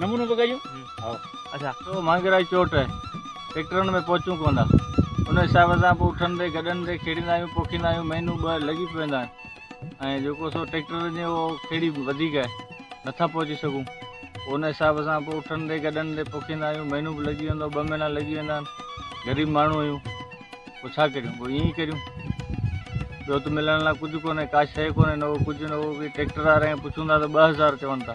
نمونو به ڪجون هائو. اچا تو مانگهراج چوٽ ٽيڪٽرن ۾ پهچون ڪونه ٿا ان حساب سان پوء اٺندي گڏندي کيڙيندا آهيون پوکيندا آهيون مهينو ٻه لڳي پويندا آهن ۽ جيڪو سو ٽيڪٽرن جي اهو کيڙي وڌيڪ آهي نٿا پهچي سگهون پوء ان حساب سان پوء اٺندي گڏندي پوکيندا آهيون مهينو به لڳي ويندو ٻه مهينا لڳي ويندا آهن غريب ماڻهو آهيون پوء ڇا ڪريون پوء ائين ڪريون ٻيو ته ملڻ لاء ڪجهه ڪونهي ڪا شيء ڪونهي نه اهو ڪجهه نه اهو ٽيڪٽر وارا ائين پڇون ٿا ته ٻه هزار چون ٿا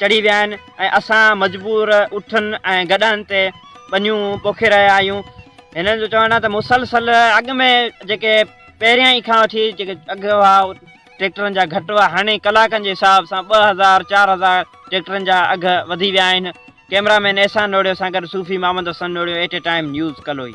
چڙهي ويا آهن ۽ اسان مجبور اٺن ۽ گڏهن تي ٻنيون پوکي رهيا آهيون هنن جو چوڻ آهي ته مسلسل اڳ ۾ جيڪي پهريان ئي کان وٺي جيڪي اگهه هئا ٽريڪٽرن جا گهٽ هئا هاڻي ڪلاڪن جي حساب سان ٻه هزار چار هزار ٽريڪٽرن جا اگهه وڌي ويا آهن ڪيمرا مين احسان نوڙيو سان گڏ صوفي محمد حسن نوڙيو A T time news Kaloi